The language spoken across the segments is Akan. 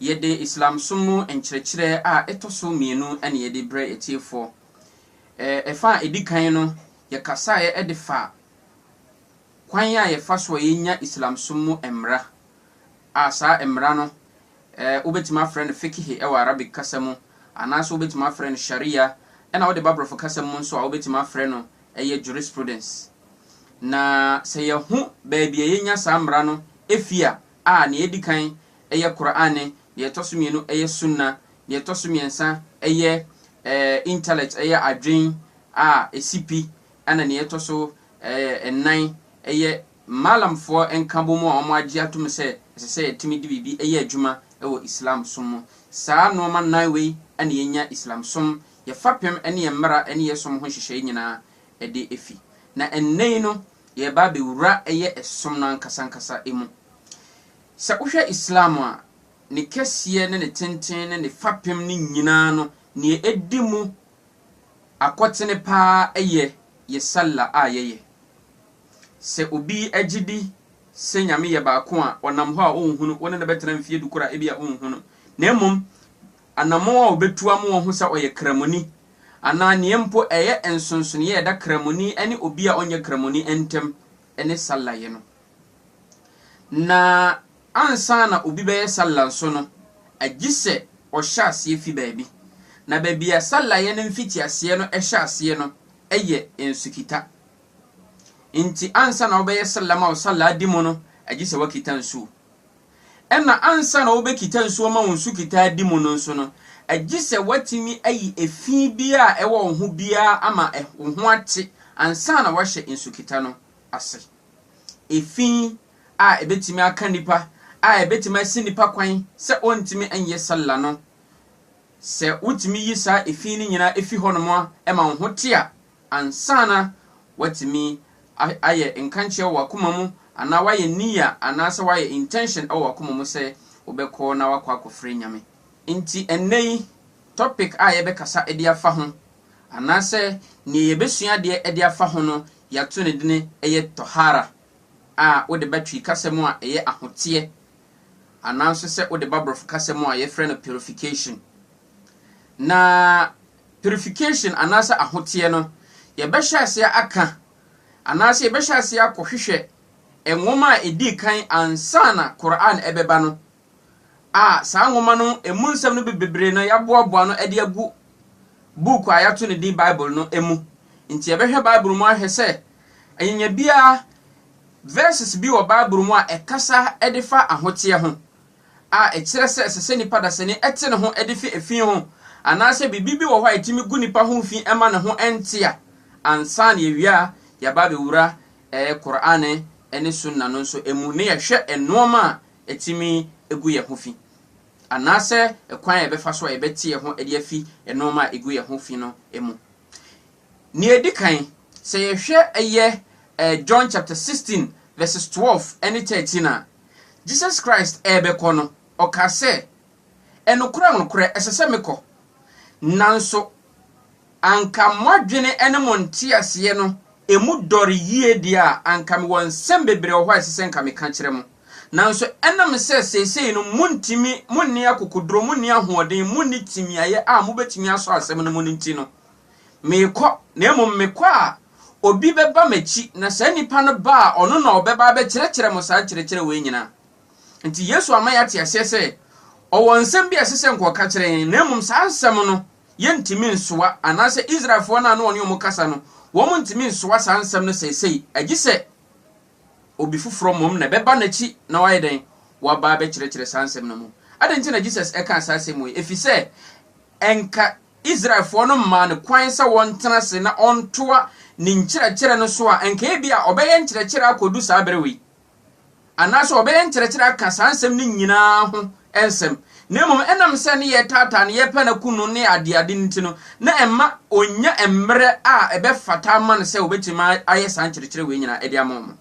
Yɛde Islamsom mu nkyerɛkyerɛ a ɛtɔ so mmienu na yɛde brɛ atiefoɔ. Ɛfa a ɛdi kan no, yɛkasaeɛ de faa kwan a yɛfa so a yɛnya Islamsom mu mmara, a saa mmara no wobɛtumi afrɛ no Fiqhi wɔ Arabic kasa mu, anaasɛ wobɛtumi afrɛ no Sharia, ɛna wode ba Borɔfo kasa mu nso a wobɛtumi afrɛ no ɛyɛ Jurisprudence. Na sɛ yɛahu baabi a yɛnya saa mmara no fi a, a nea edi kan yɛ Qur'aan ne, nea ɛtɔ so mmienu yɛ Sunnah, nea ɛtɔ so mmiɛnsa yɛ eh, intellect, ɛyɛ adwen a esi pi, ɛna nea ɛtɔ so eh, nnan yɛ Maalamfoɔ nkabom a wɔagye atom sɛ ɛsɛ sɛ yɛtumi de biribi yɛ adwuma wɔ Islam som mu. Saa nnoɔma nnan wei na yɛnya Islam som, yɛ fapem ne yɛ mmara ne yɛ som ho nhyehyɛe nyinaa de afi. Na ɛnnɛ yi no, yɛreba abɛwura ɛyɛ ɛsom no ankasa ankasa mu. Sɛ wohwɛ Islam a, ne kɛseɛ ne ne tenten ne ne fapem no nyinaa no, deɛ ɛdi mu akɔtene pa ara yɛ yɛ Sallah a yɛyɛ. Sɛ obi gye di sɛ Nyame yɛ baako a, ɔnam hɔ a ɔnhunu, wo ne no bɛtena mfeɛ du koraa a, ebia ɔnhunu. Na mmom, anammɔn a obetu ama wɔahu sɛ ɔyɛ Kramoni, anaa nea mpo ɛyɛ nsonsonoe a ɛda Kramoni ne obi a ɔnyɛ Kramoni ntam ne Sallayɛ no. Na ansa na obi bɛyɛ Sallah nso no, agye sɛ ɔhyɛ aseɛ fi baabi. Na baabi a Sallayɛ no mfitiaseɛ no hyɛ aseɛ no yɛ nsukita. Enti ansa na wobɛyɛ Sallah ma wo Sallah adi mu no, agye sɛ woakita nsuo. Ɛnna ansa na wobekita nsu ama wɔn sukitaadi mu no nso no, gye sɛ woatumi ayi efi biara a ɛwɔ wo ho biara ama wo ho ate ansa na woahyɛ nsukita no ase. Efi a ebetumi aka nnipa a ebetumi asi nnipa kwan sɛ ɔntumi nyɛ salla no, sɛ wutumi yi saa efi no nyinaa fi hɔnom ma wo ho te a, Ansa na woatumi ayɛ nkankyee wɔ w'akoma mu anaa woayɛ niya anaasɛ woayɛ intention wɔ w'akoma mu sɛ wobɛkɔ na woakɔ akɔfrɛ Nyame. Nti ɛnnɛ yi topic a yɛbɛkasa de afa ho anaasɛ neɛ yɛbɛsua adeɛ de afa ho no yɛato ne dini yɛ Tohara a wode ba Twi kasa mu a ɛyɛ ahoteɛ anaa nso sɛ wode ba Borɔfo kasa mu a yɛfrɛ no Purification. Na purification anaasɛ ahoteɛ no, yɛbɛhyɛ aseɛ aka anaasɛ yɛbɛhyɛ aseɛ akɔhwehwɛ nwoma a ɛdii kan ansa na Qur'aan ɛbɛba no, a saa nwoma no ɛmu nsɛm no bebree no yɛaboaboa no de agu book a yɛato ne din Bible no mu. Nti yɛbɛhwɛ Bible mu ahwɛ sɛ anyanya biara verses bi wɔ Bible mu a ɛkasa de fa ahoteɛ ho. a ɛkyerɛ sɛ ɛsɛ sɛ nipa dasani te ne ho de fi efi ho anaasɛ biribi bi wɔ hɔ a etumi gu nipa ho fi ma ne ho nte a, ansa na yɛawia a yɛaba abɛwura ɛɛ Qur'aan ne Sunnah no nso mu na yɛahwɛ nnoɔma a etumi gu yɛn ho fi anaasɛ kwan a yɛbɛfa so a yɛbɛte yɛn ho de afi nnoɔma a egu yɛn ho fi no mu. Nea edi kan, sɛ yɛhwɛ ɛyɛ ɛɛ John chapter sixteen verses twelve ne thirteen a, Jesus Christ rebɛkɔ no, ɔkaa sɛ, Nokorɛ, nokorɛ, ɛsɛ sɛ mekɔ, nanso anka moadwene ne mo nteaseɛ no mu dɔre yie deɛ a, anka mewɔ nsɛm bebree wɔ hɔ a ɛsɛ sɛ nka meka kyerɛ mo, nanso ɛnam sɛ seesei no montumi, monni akokoduro, monni ahoɔden, monni timiaeɛ a mobɛtumi asɔ asɛm no mu no nti no, Merekɔ, na mmom mekɔ a, obi bɛba m'akyi, na saa nipa no ba a, ɔno na ɔbɛba abɛkyerɛkyerɛ mo saa nkyerɛkyerɛ wei nyina. Nti Yesu ama yɛate aseɛ sɛ, ɔwɔ nsɛm bi a ɛsɛ sɛ nka ɔka kyerɛ yɛn, na mmom saa nsɛm no, yɛntumi nsoa, anaasɛ Israelfoɔ no a na ɔne wɔn kasa no, wɔn ntumi nsoa saa nsɛm no seesei, agye sɛ obi foforɔ mmom na ɛbɛba n'akyi na wayɛ dɛn? Waba abɛkyerɛkyerɛ saa nsɛm no mu. Adɛn nti na Jesus ɛkaa saa asɛm wei? Ɛfiri sɛ, ɛnka Israelfoɔ no mmaa no kwan sɛ wɔntena ase na ɔntoa ne nkyerɛkyerɛ no so a, anka ebia ɔbɛyɛ nkyerɛkyerɛ akɔdu saa berɛ wei, anaasɛ ɔbɛyɛ nkyerɛkyerɛ aka saa nsɛm no nyina ara ho nsɛm, na mmom ɛnam sɛ ne yɛretaataa no, yɛrepɛ no akum no, ne adeade no nti no, na ɛmma ɔnnya mmerɛ a ɛbɛfata ama no sɛ ɔbɛtumi ayɛ saa nkyerɛkyerɛ wei nyina ara de ama wɔn.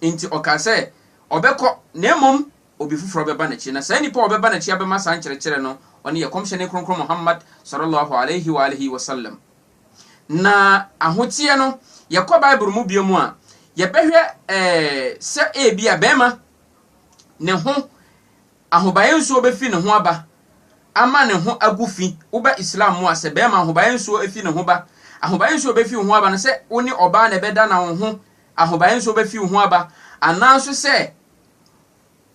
Enti ɔkaa sɛ ɔbɛkɔ, na mmom obi foforɔ bɛba n'akyi, na saa nipa a ɔbɛba n'akyi abɛma saa nkyerɛkyerɛ no, ɔno yɛ Kɔmhyɛni Kronkron Muhammad, Sɔlɔ Lɔho Alaihi W'alihi Wasallam. Na ahoteɛ no, yɛkɔ Bible mu bio mu a, yɛbɛhwɛ ɛɛ sɛ ebi a bɛrima ne ho ahobaeɛ nsuo bɛfi ne ho aba ama ne ho agu fi, woba Islam mu a sɛ bɛrima ahobaeɛ nsuo efi ne ho ba, ahobaeɛ nsuo bɛfi wo ho aba no sɛ wo ne ɔbaa na ɛbɛda na wo ho ahobaeɛ nsuo bɛfi wo ho aba, anaa nso sɛ.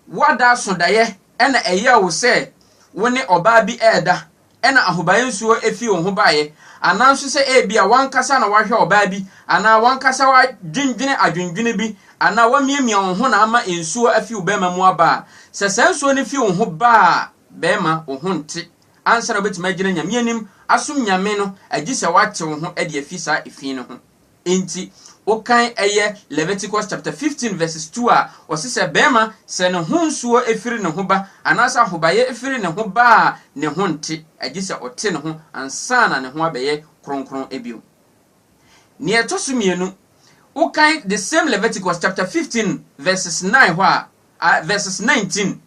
Woada so daeɛ na ɛyɛɛ wo sɛ wo ne ɔbaa bi reda na ahobaeɛ nsuo fii wo ho baeɛ, anaa nso sɛ ebia w'ankasa na woahwɛ ɔbaa bi anaa w'ankasa woadwendwene adwendwene bi anaa woamiamia wo ho na ama nsuo afi wo bɛrima mu aba a, sɛ saa nsuo no fi wo ho ba a, bɛrima, wo ho nte ansa na wobɛtumi agyina Nyame anim asom Nyame no agye sɛ woate wo ho de afi saa efi no ho. Enti wokan ɛyɛ Leviticus chapter 15 verses 2 a, ɔse sɛ bɛɛma sɛ ne ho nsuo ɛfiri ne ho ba anaasɛ ahobayɛ ɛfiri ne ho ba a ne ho nte, agyesɛ ɔte ne ho ansa na ne ho abɛyɛ kronkron bio. Neɛ ɛtɔso mmienu, wokan the same Leviticus chapter 15 verses 9 hɔ a, verses 19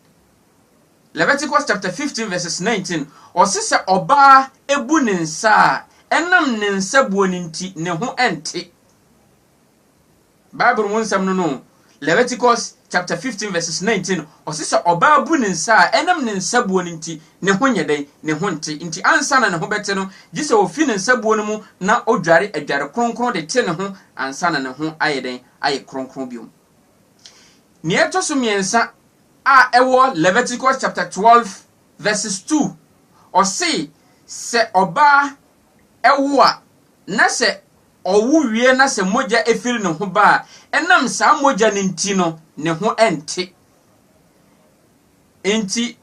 Leviticus chapter 15 verses 19, ɔse sɛ ɔbaa ebu ne nsa a, ɛnam ne nsa buo no nti ne ho ɛnte. Bible mu nsɛm no no, Leviticus chapter 15 verses 19, ɔse sɛ ɔbaa bu ne nsa a, ɛnam ne nsa buo no nti ne ho nyɛ dɛn? Ne ho nte. Nti ansa na ne ho bɛte no, gye sɛ ofi ne nsa buo no mu na odware adware kronkron de te ne ho ansa na ne ho ayɛ dɛn? Ayɛ kronkron biom. Nea ɛto so mmiɛnsa a ɛwɔ Leviticus chapter twelve verses two, ɔse sɛ ɔbaa wo a na sɛ ɔwo wie na sɛ mogya firi ne ho ba a, ɛnam saa mogya no nti no, ne ho nte. Nti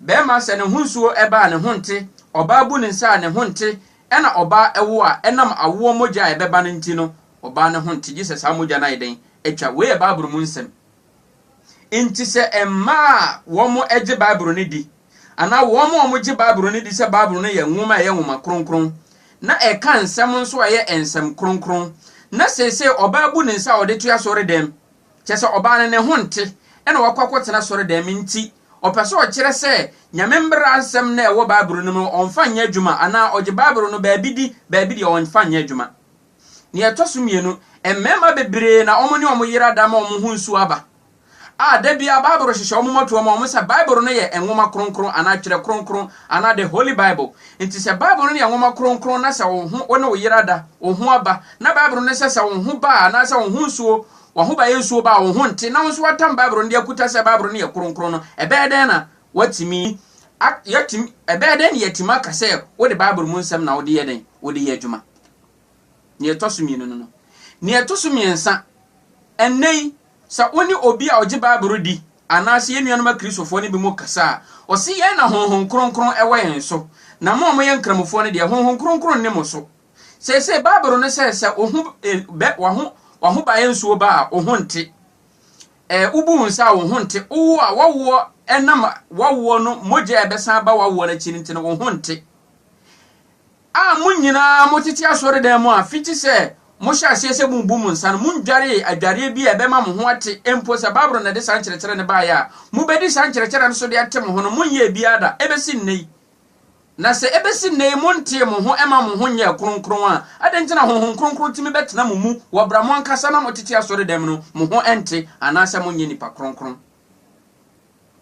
Bɛɛma sɛ ne ho nsuo ba a ne ho nte, ɔbaa bu ne nsa a ne ho nte, ɛna ɔbaa ɛwo a ɛnam awoɔ mogya a ɛbɛba no nti no ɔbaa no ho nte gye sɛ saa mogya no ayɛ dɛn atwa. Wei yɛ Bible mu nsɛm. Nti sɛ mmaa a wɔn gye Bible no di anaa wɔn a wɔn gye Bible no di sɛ Bible no yɛ nwoma a ɛyɛ nwoma kronkron na ɛka nsɛm nso a ɛyɛ nsɛm kronkron na seesei ɔbaa bu ne nsa a ɔde to asɔredɛm kyɛ sɛ ɔbaa no ne ho nte ɛna wakɔ akɔtena asɔredɛm nti Ɔpɛ sɛ ɔkyerɛ sɛ Nyame mbra nsɛm no a ɛwɔ Bible no mu no ɔmmfa nnyɛ adwuma anaa ɔgye Bible no baabi di, baabi deɛ ɔmmfa nnyɛ adwuma. Nea ɛtɔ so mmienu, mmarima bebree na wɔn ne wɔn yere ada ama wɔn ho nsuo aba, a da biara Bible hyehyɛ wɔn mmɔtoɔ ma wɔn sɛ Bible no yɛ Nwoma Kronkron anaa Twerɛ Kronkron anaa The Holy Bible. Nti sɛ Bible no yɛ Nwoma Kronkron na sɛ wo ho, wo ne wo yere ada, wo ho aba, na Bible no sɛ sɛ wo ho ba a anaasɛ wo ho nsuo, Wɔn ho bɛyɛ nsuo ba a wɔn ho nte na wɔn nso wɔatam Bible no de akuta sɛ Bible no yɛ kronkron no, ɛbɛyɛ dɛn na wɔatumi a, yɛatumi, ɛbɛyɛ dɛn na yɛatumi aka sɛ wode Bible mu nsɛm na wode yɛ dɛn? Wode yɛ adwuma. Nea ɛtɔ so mmienu no no. Nea ɛtɔ so mmiɛnsa, ɛnnɛ yi, sɛ wo ne obi a ɔgye Bible no di anaasɛ yɛn nuanom Akristofoɔ no bi mu kasa a, ɔse yɛn na Honhom Kronkron wɔ yɛn so, na mo a moyɛ Nkramofoɔ no deɛ, Honhom Kronkron nni mo so. Seesei Bible no sɛ sɛ wo ho eh, bɛ waho wahobaeɛ nsuo ba a wo ho nte. Eh, wobu wo nsa a wo ho nte. Wowo a wawoɔ ɛnam wawoɔ no mogya a ɛbɛsan aba wawoɔ no akyi no nti no wo ho nte. A mo nyinaa motete asɔredan mu a fiti sɛ mohyɛ aseɛ sɛ mobu mo nsa no mondwaree adwareɛ bi a ɛbɛma mo ho ate mpo sɛ Bible na ɛde saa nkyerɛkyerɛ no baeɛ a mobɛdi saa nkyerɛkyerɛ no so de ate mo ho no monyɛɛ biara da ɛbɛsi nnɛ yi. Na sɛ ebesi nnɛ yi montee mo ho mma mo ho nyɛɛ kronkron a, adɛn nti na Honhom Kronkron tumi bɛtena mo mu wɔ bere a mo ankasa na motete asɔredɛm no, mo ho nte, anaasɛ monyɛ nnipa kronkron?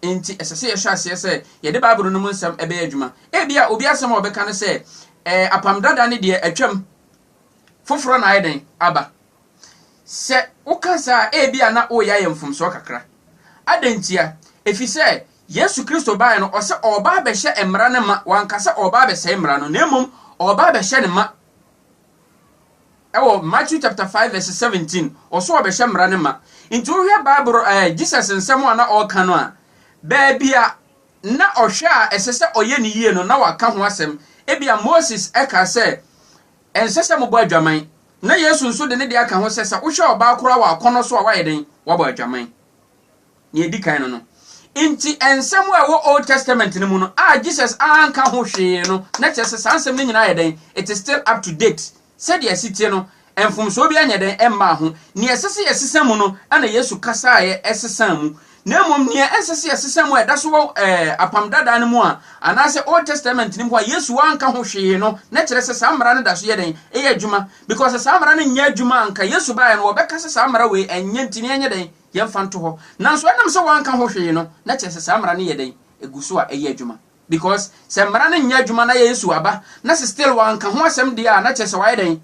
Enti ɛsɛ sɛ yɛhyɛ aseɛ sɛ yɛde Bible no mu nsɛm bɛyɛ adwuma. Ebia obi asɛm a ɔbɛka ne sɛ, Ɛɛ, Apam Dada no deɛ atwam, foforɔ na ayɛ dɛn? Aba. Sɛ woka saa a, ebia na woreyɛ ayɛ mfomsoɔ kakra. Adɛn ntia? Efisɛ Yesu Kristo baeɛ no, ɔsɛ ɔreba abɛhyɛ mmara no ma, wanka sɛ ɔreba abɛsɛe mmara no, na mmom ɔreba abɛhyɛ no ma. Ɛwɔ Matthew chapter 5 verse 17, ɔsɛ ɔbɛhyɛ mmara no ma. Nti wohwɛ Bible ɛɛ Jesus nsɛm a na ɔreka no a, baabi a na ɔhwɛ a ɛsɛ sɛ ɔyɛ ne yie no, na waka ho asɛm. Ebia Moses ɛka sɛ ɛnsɛ sɛ mobɔ adwaman, na Yesu nso de ne deɛ aka ho sɛ sɛ wohwɛ ɔbaa koraa wɔ akɔnnɔ so a woayɛ dɛn? Woabɔ adwaman. Nea edi kan no no nti, nsɛm a ɛwɔ Old Testament no mu no a Jesus anka ho hwee no, na kyerɛ sɛ saa nsɛm no nyinaa ayɛ dɛn? It is still up to date. Sɛdeɛ ɛsi teɛ no, mfomsoɔ biara nyɛ dɛn mmaa ho. Nea ɛsɛ sɛ yɛsesa mu no na Yesu kasaeɛ sesaa mu, na mmom nea ɛnsɛ sɛ yɛsesa mu a ɛda so wɔ ɛɛ Apam Dadaa no mu a anaasɛ Old Testament no mu a Yesu anka ho hwee no, na kyerɛ sɛ saa mmara no da so yɛ dɛn? Ɛyɛ adwuma. Because sɛ saa mmara no nyɛ adwuma a anka Yesu baeɛ no wɔbɛka sɛ saa mmara wei ɛnyɛ nti no yɛnyɛ dɛn? Yɛmfa nto hɔ. Nanso ɛnam sɛ wɔanka ho hwee no, na kyerɛ sɛ saa mmara no yɛ dɛn? Egu so a ɛyɛ adwuma. Because sɛ mmara no nyɛ adwuma na Yesu aba na sɛ still wɔanka ho asɛm deɛ a, na kyerɛ sɛ wayɛ dɛn?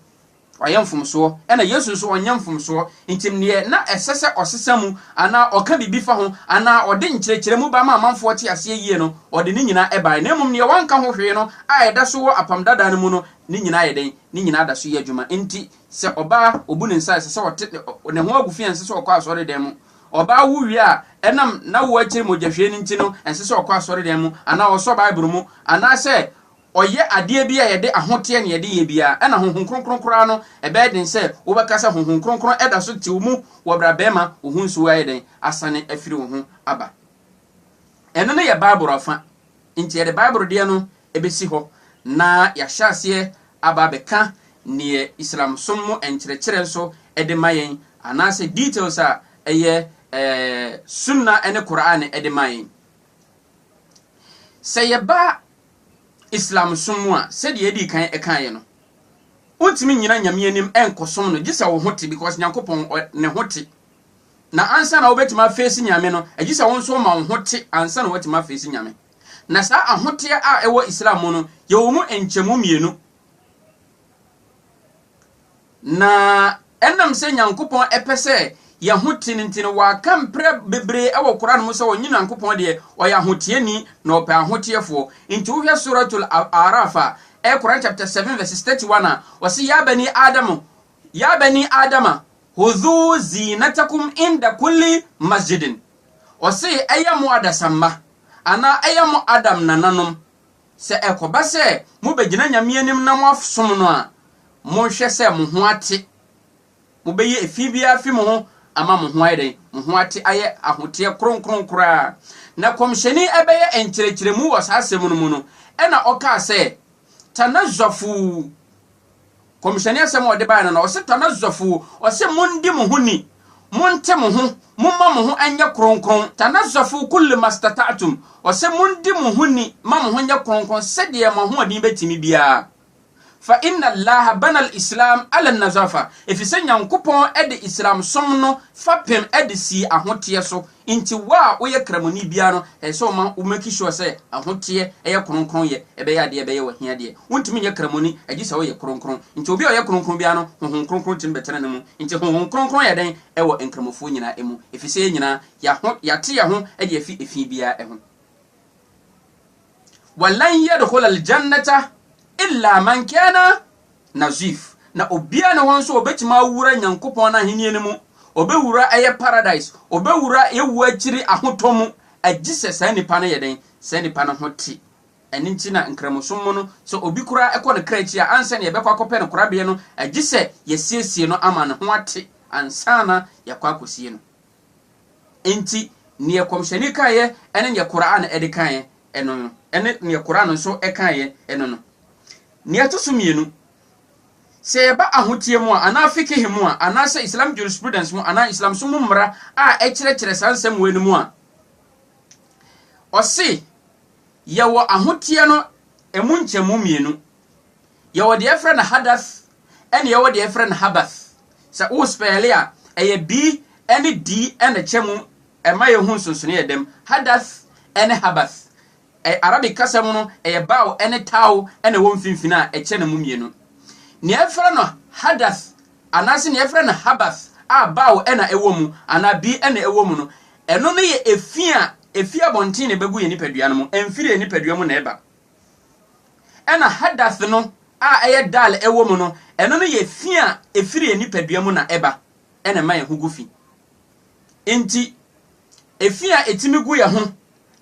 Wayɛ mfomsoɔ. Ɛna Yesu nso ɔnyɛ mfomsoɔ. Nti neɛ na ɛsɛ sɛ ɔsesa mu anaa ɔka biribi fa ho anaa ɔde nkyerɛkyerɛmu ba ma amanfoɔ te aseɛ yie no, ɔde ne nyinaa ɛbaeɛ. Na mmom neɛ wanka ho hwee no a ɛda so wɔ Apam Dadaa no mu no, ne nyinaa yɛ dɛn? Ne nyinaa da so yɛ adwuma. Nti Sɛ ɔbaa obu ne nsa a, ɛsɛ sɛ ɔte ne, ne ho agu fi a ɛnsɛ sɛ ɔkɔ asɔredan mu. Ɔbaa wo wie a, ɛnam n'awo akyiri mogyahwie no nti no, ɛnsɛ sɛ ɔkɔ asɔredan mu anaa ɔsɔ Bible mu anaasɛ ɔyɛ adeɛ bi a yɛde ahoteɛ na yɛde yɛ biara. Ɛna Honhom Kronkron koraa no, ɛbɛyɛ den sɛ wobɛka sɛ Honhom Kronkron da so te wo mu wɔ berɛ a bɛrima wo ho nsuo ayɛ dɛn? Asane afiri wo ho aba. Ɛno no yɛ Bible afa. Enti yɛde Bible deɛ no bɛsi hɔ na yɛahyɛ aseɛ aba abɛka deɛ Islamsom mu nkyerɛkyerɛ nso de ma yɛn, anaasɛ details a ɛyɛ ɛɛ Sunnah ne Qur'aan de ma yɛn. Sɛ yɛba Islamsom mu a, sɛdeɛ yɛdii kan kaeɛ no, wontumi nnyina Nyame anim nkɔsom no gye sɛ wo ho te because Nyankopɔn ɔ, ne ho te. Na ansa na wobɛtumi afeesi Nyame no, ɛgye sɛ wo nso woma wo ho te ansa na woatumi afeesi Nyame. Na saa ahoteɛ a ɛwɔ Islam mu no, yɛwɔ mu nkyɛmu mmienu. Na ɛnam sɛ Nyankopɔn pɛ sɛ yɛn ho te no nti no, waka mprɛ bebree wɔ Qur'aan mu sɛ ɔnye Nyankopɔn deɛ, ɔyɛ ahoteɛni na ɔpɛ ahoteɛfoɔ. Nti wohwɛ Suratul A'araaf a, ɛyɛ Qur'aan chapter 7 verses 31 a, ɔse, Yaa banii Aadama, Ya bani Adama hudhu zinatakum inda kulli masjidin, ɔse ɛyɛ mo adasamma anaa ɛyɛ mo Adam nananom, sɛ ɛkɔba sɛ mobɛgyina Nyame anim na moasom no a, monhwɛ sɛ mo ho ate, mobɛyi efi biara afi mo ho ama mo ho ayɛ dɛn? Mo ho ate ayɛ ahoteɛ kronkron koraa. Na Kɔmhyɛni ɛbɛyɛ nkyerɛkyerɛmu wɔ saa asɛm no mu no, ɛna ɔkaa sɛ, Tanazzafu, Kɔmhyɛni asɛm a ɔde bae no na ɔse, Tanazzafu, ɔse, Mondi mo ho ni, monte mo ho, momma mo ho nyɛ kronkron, Tanazzafu kulli mastata'tum, ɔse, Mondi mo ho ni ma mo ho nyɛ kronkron sɛdeɛ mo ahoɔden bɛtumi biara, Fa inna Allaha bana al-Islam ala an-nazafa, efisɛ Nyankopɔn de Islamsom no fapem de sii ahoteɛ so, Nti wo a woyɛ Kramoni biara no, ɛsɛ sɛ ɔma wo make sure sɛ ahoteɛ ɛyɛ kronkronyɛ ɛbɛyɛ adeɛ ɛbɛyɛ wo ahia deɛ. Wontumi nyɛ Kramoni agye sɛ woyɛ kronkron. Nti obi a ɔyɛ kronkron biara no, Honhom Kronkron tumi bɛtena ne mu. Nti Honhom Kronkron yɛ dɛn ɛwɔ Nkramofoɔ nyinaa ɛmu? Ɛfisɛ yɛn nyinaa yɛaho yɛate yɛn ho ɛde afi ɛfi biara ɛho. Walan yɛdhola aljannata illa man kana. na Zuf, na obiara nni hɔ nso a obetumi awura Nyankopɔn n'ahenni no mu, obewura ɛyɛ paradise, obewura ewu akyiri ahotɔ mu, agye sɛ saa nipa no yɛ dɛn, saa nipa no ho te. Ɛno nti na Nkramosom mu no, sɛ obi koraa kɔ ne kra akyi a, ansa na yɛbɛkɔ akɔpɛ no korabea no, agye sɛ yɛasiesie no ama ne ho ate ansa na yɛakɔ akosie no. Enti, nea Kɔmhyɛni kaeɛ ne nea Qur'aan de kaeɛ no no, ne nea Qur'aan nso kaeɛ no no, Nea ɛto so mmienu, sɛ yɛba ahoteɛ mu a, anaa fiqh mu a, anaasɛ Islam jurisprudence mu, anaa Islamsom mu mmara a ɛkyerɛkyerɛ saa nsɛm wei no mu a, ɔse yɛwɔ ahoteɛ no ɛmu nkyɛmu mmienu. Yɛwɔ deɛ ɛfrɛ no hadath ɛne yɛwɔ deɛ ɛfrɛ no habath. Sɛ wo spɛɛle a, ɛyɛ bi ɛne di ɛna kyɛ mu ɛma yɛhu nsonsonoeɛ dɛm, hadath ɛne habath. Arabic kasa mu no, ɛyɛ baw ne taw na ɛwɔ mfinimfini a ɛkyɛ no mu mmienu. Nea wɔfrɛ no hadath anaasɛ nea wɔfrɛ no habath a baw na ɛwɔ mu anaa bi na ɛwɔ mu no, ɛno no yɛ efi a efi abɔnten na ɛbɛgu yɛn nipadua no mu, ɛmfiri yɛn nipadua mu na ɛba. Ɛnna hadath no a ɛyɛ dal wɔ mu no, ɛno no yɛ fi a ɛfiri yɛn nipadua mu na ɛba na ɛma yɛn ho gu fi. Enti, efi a ɛtumi gu yɛn ho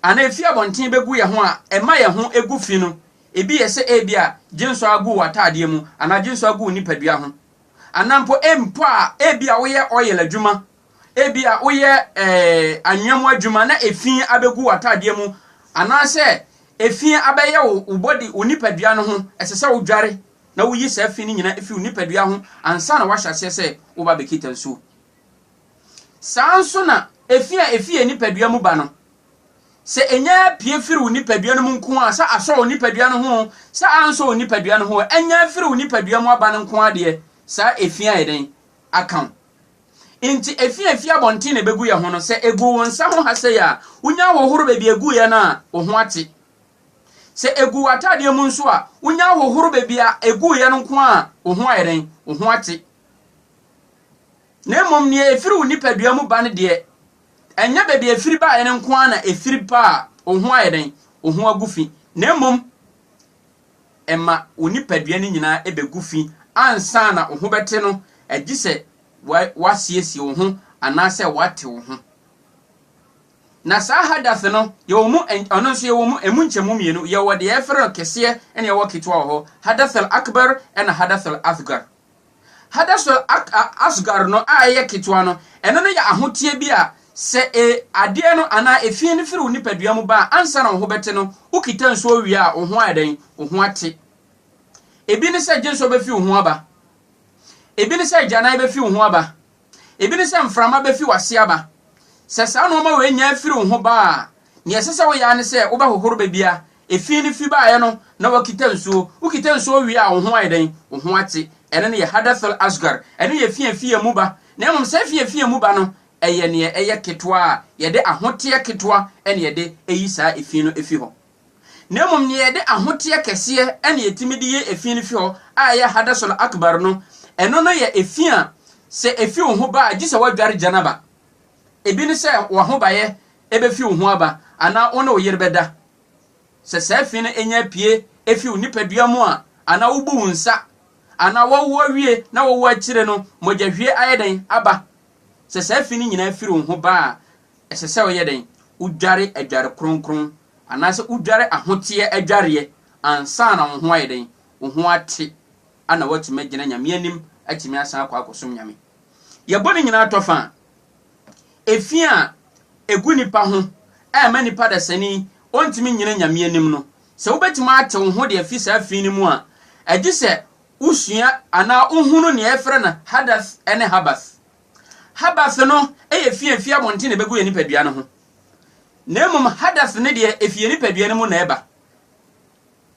Anaa efi abɔnten begu yɛn ho a, ɛma yɛn ho gu fi no, ebi yɛ sɛ ebia gyensɔ agu w'ataadeɛ mu anaa gyensɔ agu wo nipadua ho. Anaa mpo mpo a ebia woyɛ oil adwuma, ebia woyɛ ɛɛ anwea mu adwuma na efi abegu w'ataadeɛ mu anaasɛ efi abɛyɛ wo wo body wo nipadua no ho, ɛsɛ sɛ wodware na woyi saa fi no nyinaa fi wo nipadua ho ansa na woahyɛ aseɛ sɛ woba abɛkita nsuo. Saa ara nso na efi a efi yɛn nipadua mu ba no, sɛ enya pue firi wo nipadua no mu nko a, sɛ asɔ wo nipadua no ho, sɛ ansɔ wo nipadua no ho, enya firi wo nipadua mu aba no nko ara deɛ, saa efi ayɛ dɛn? Aka wo. Nti efi a efi abɔnten na ebegu yɛn ho no, sɛ egu wo nsa ho ha sei a, wonya ahohoro baabi a eguiɛ no a, wo ho ate. Sɛ egu w'ataadeɛ mu nso a, wonya ahohoro baabi a eguiɛ no nko a, wo ho ayɛ dɛn? Wo ho ate. Na mmom nea efiri wo nipadua mu ba no deɛ, ɛnyɛ baabi a efiri baeɛ no nko ara na efiri ba a wo ho ayɛ dɛn? Wo ho agu fi, na mmom ɛma wo nipadua no nyinaa bɛgu fi ansa na wo ho bɛte no, gye sɛ woasiesie wo ho anaasɛ woate wo ho. Na saa hadath no, yɛwɔ mu, ɔno nso yɛwɔ mu, emu nkyɛmu mmienu, yɛwɔ deɛ yɛfrɛ no kɛseɛ na yɛwɔ ketewa wɔ hɔ, hadath al-akbar ɛna hadath al-asghar. Hadasol-Asgar no a ɛyɛ ketewa no, ɛno no yɛ ahoteɛ bi a sɛ e, adeɛ no anaa efie no firi wo nipadua mu ba a, ansa na wo ho bɛte no, wo kita nsuo wie a, wo ho ayɛ dɛn? Wo ho ate. Ebi ne sɛ gye nsuo bɛfiri wo ho aba. Ebi ne sɛ agyanan bɛfiri wo ho aba. Ebi ne sɛ mframa befi w'ase aba. Sɛ saa nneɛma wei nnya mfiri wo ho ba a, nea ɛsɛ sɛ woyɛ ara ne sɛ wobɛhohoro baabi a efi no fi baeɛ no na woakita nsuo. Wokita nsuo wie a, wo ho ayɛ dɛn? Wo ho ate. Ɛno ne yɛ hadath al-asghar. Ɛno yɛ fi a efi yɛn mu ba. Na mmom saa fi a efi yɛn mu ba no, ɛyɛ nea ɛyɛ ketewa a yɛde ahoteɛ ketewa na yɛde yi saa fi no fi hɔ. Na mmom nea ɛde ahoteɛ kɛseɛ na ɛtumi de yɛ efi no fi hɔ a ɛyɛ Hadasul Akbar no, ɛno no yɛ efi a sɛ efi wo ho ba a gye sɛ woadware Janaba. Ebi ne sɛ w'ahobaeɛ ɛbɛfi wo ho aba anaa wo ne wo yere bɛda. Sɛ saa fi no nya pue fi wo nipadua mu a, anaa wobu wo nsa, anaa woawo awie na woawo akyire no mogyahwie ayɛ dɛn aba, sɛ saa fi no nyinaa firi wo ho ba a, Ɛsɛ sɛ woyɛ dɛn? Wodware adware kronkron anaasɛ wodware ahoteɛ adwareɛ ansa na wo ho ayɛ dɛn? Wo ho ate na woatumi agyina Nyame anim atumi asan akɔ akɔsom Nyame. Yɛbɔ ne nyinaa tɔ fa a, efi a ɛgu nnipa ho a ɛma nnipa dasani ɔntumi nnyina Nyame anim no, sɛ wobɛtumi ate wo ho de afi saa fi no mu a, ɛgye sɛ wosua anaa wohunu nea yɛfrɛ no hadath ne habath. Hadath no yɛ fi a efi abɔnten na ebegu yɛn nipadua no ho. Na mmom hadath no deɛ efi yɛn nipadua no mu na ɛba.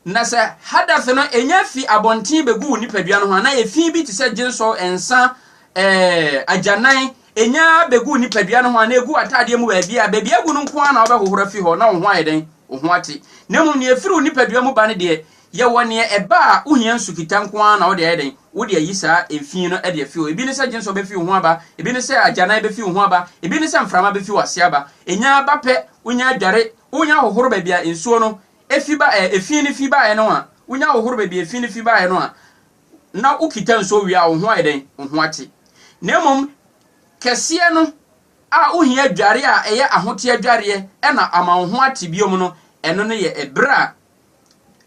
Na sɛ hadath no enya fi abɔnten begu wo nipadua no ho anaa efi bi te sɛ gyensɔ, nsa, ɛɛ agyanan enya begu wo nipadua no ho anaa egu ataadeɛ mu baabi a baabi agu no nko ara na wobɛhohoro afi hɔ na wo ho ayɛ dɛn? Wo ho ate. Na mmom nea efiri wo nipadua mu ba no deɛ Yɛ wɔ neɛ ɛba a wo hia nsu kita nko ara na wode ayɛ dɛn wode ayi saa nfii no de afi hɔ ebi ne sɛ gyensɔ bɛfi wo ho aba ebi ne sɛ agyanan bɛfi wo ho aba ebi ne sɛ mframa bɛfi w'ase aba ɛnya ba pɛ wonya adware wonya hohoro baabi a nsuo no ɛfi ba ɛ ɛfii no fi baeɛ no a wonya hohoro baabi ɛfii no fi baeɛ no a na wo kita nsuo wie a wo ho ayɛ dɛn wo ho ate na mmom kɛseɛ no a wo hia adware a ɛyɛ ahoteɛ adwareɛ ɛna ama wo ho ate biom no ɛno no yɛ ɛberɛ a